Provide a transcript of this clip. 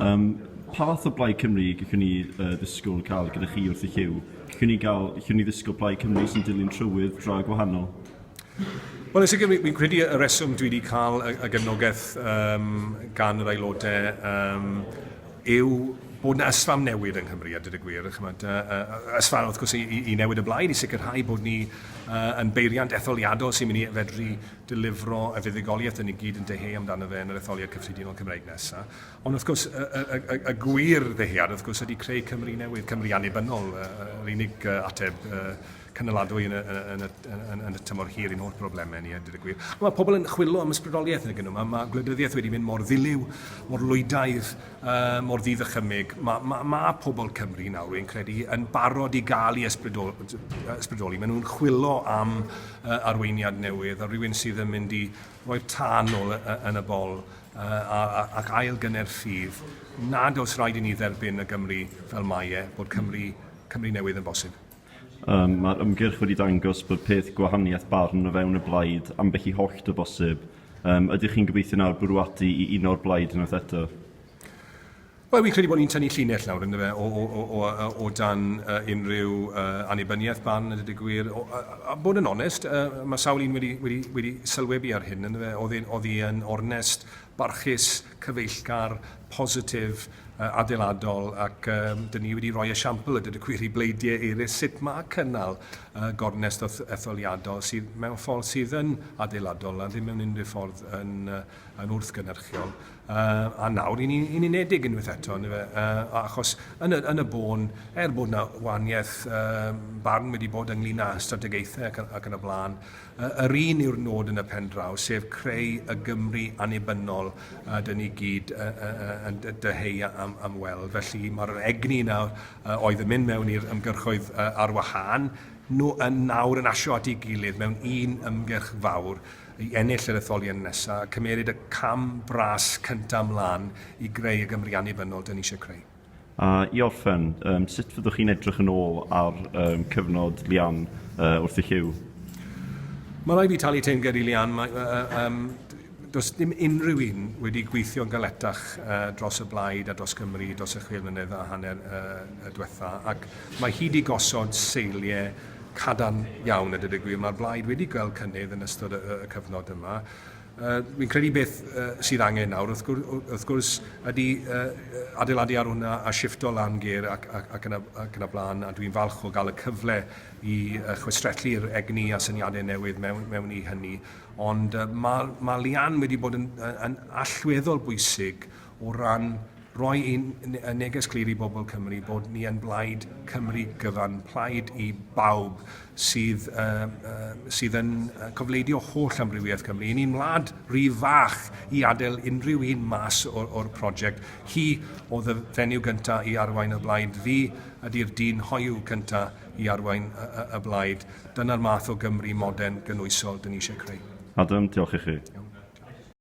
Um, pa fath o Blaid Cymru gallwn ni uh, ddisgwyl cael gyda chi wrth y lliw? Gallwn ni, gael, gallwn ni ddisgwyl Blaid Cymru sy'n dilyn trywydd dra gwahanol? Wel, yn sicr, fi'n credu y reswm dwi wedi cael y, y gefnogaeth um, gan yr aelodau um, yw bod yna ysfam newydd yng Nghymru, a dyd y gwir, chymod, uh, ysfam wrth gwrs i, i, i newid y blaid, i sicrhau bod ni uh, yn beiriant etholiadol sy'n mynd i fedru delifro y fuddugoliaeth yn ei gyd yn deheu amdano fe yn yr etholiad cyffredinol Cymraeg nesaf. Ond wrth gwrs, y, y, y, y, y gwir ddehiad, wrth gwrs, ydy creu Cymru newydd, Cymru annibynnol, yr unig ateb cynaladwy yn y, yn, y, yn, yn y tymor hir i'n holl broblemau ni, a dweud y gwir. Mae pobl yn chwilio am ysbrydoliaeth yn y gynnu. Mae, mae gwleidyddiaeth wedi mynd mor ddiliw, mor lwydaidd, uh, mor ddydd y chymig. Mae, mae, mae pobl Cymru nawr, wy'n credu, yn barod i gael ei ysbrydoli. Maen nhw'n chwilio am uh, arweiniad newydd, a rhywun sydd yn mynd i Roedd tân ôl yn y bol ac ail gynner ffydd nad oes rhaid i ni dderbyn y Gymru fel mae e, bod Cymru, Cymru newydd yn bosib. Yym, mae'r ymgyrch wedi dangos bod peth gwahaniaeth barn o fewn y blaid ambell i hollt o bosib. Yym, ydych chi'n gobeithio nawr bwriadu i uno'r blaid unwaith eto? Wel, fi'n credu bod ni'n tynnu llinell nawr, ynddo fe, o, o, o, o, o, o dan uh, unrhyw uh, annibyniaeth barn, ydy dy gwir. O, a, a, bod yn onest, uh, mae sawl un wedi, wedi, wedi sylwebu ar hyn, ynddo fe, oedd hi yn ornest, barchus, cyfeillgar, positif, uh, adeiladol, ac um, dyn ni wedi rhoi esiampl, ydy dy gwir, i bleidiau eraill sut mae cynnal uh, gornest etholiadol sydd mewn ffordd sydd yn adeiladol a ddim mewn unrhyw ffordd yn, uh, yn wrthgynerchiol. Uh, a nawr, yn, yn unedig unwaith eto, yn efe, uh, achos yn y, yn y bôn, er bod yna waniaeth uh, barn wedi bod ynglyn â strategaethau ac, ac yn y blaen, uh, yr un yw'r nod yn y pen draw, sef creu y Gymru anibynnol a dyn ni gyd uh, uh, uh, yn dyheu am, am weld. Felly mae'r egni yna uh, oedd yn mynd mewn i'r ymgyrchoedd uh, ar wahân, nhw yn nawr yn asio at ei gilydd mewn un ymgyrch fawr i ennill yr etholiad nesaf a cymmeryd y cam bras cyntaf mlaen i greu y Gymru annibynnol dyn ni eisiau creu. A i orffen, um, sut fyddwch chi'n edrych yn ôl ar um, cyfnod Lian uh, wrth i Lliw? Mae rai fi talu teimged i Lian. Mae, uh, um, does dim unrhyw un wedi gweithio'n galetach uh, dros y blaid a dros Gymru dros y chwil mlynedd a hanner uh, y diwetha. Ac mae hi wedi gosod seiliau cadarn iawn a dweud y gwir. Mae'r blaid wedi gweld cynnydd yn ystod y, y cyfnod yma. Uh, fi'n credu beth uh, sydd angen nawr, wrth gwrs, wrth gwrs ydy uh, adeiladu ar hwnna a shifto lan ger ac, ac, ac, yna, ac yna blaen, a dwi'n falch o gael y cyfle i uh, chwistrellu'r egni a syniadau newydd mewn, mewn i hynny. Ond uh, mae, mae Lian wedi bod yn, yn allweddol bwysig o ran roi ein neges glir i bobl Cymru bod ni yn blaid Cymru gyfan, plaid i bawb sydd, uh, uh, sydd yn cofleidio holl amrywiaeth Cymru. Yn un wlad rhy fach i adael unrhyw un mas o'r prosiect. Hi oedd y fenyw gyntaf i arwain y blaid. Fi ydy'r dyn hoiw cyntaf i arwain y, y, y blaid. Dyna'r math o Gymru modern gynwysol dyn ni eisiau creu. Adam, diolch i chi. Iawn.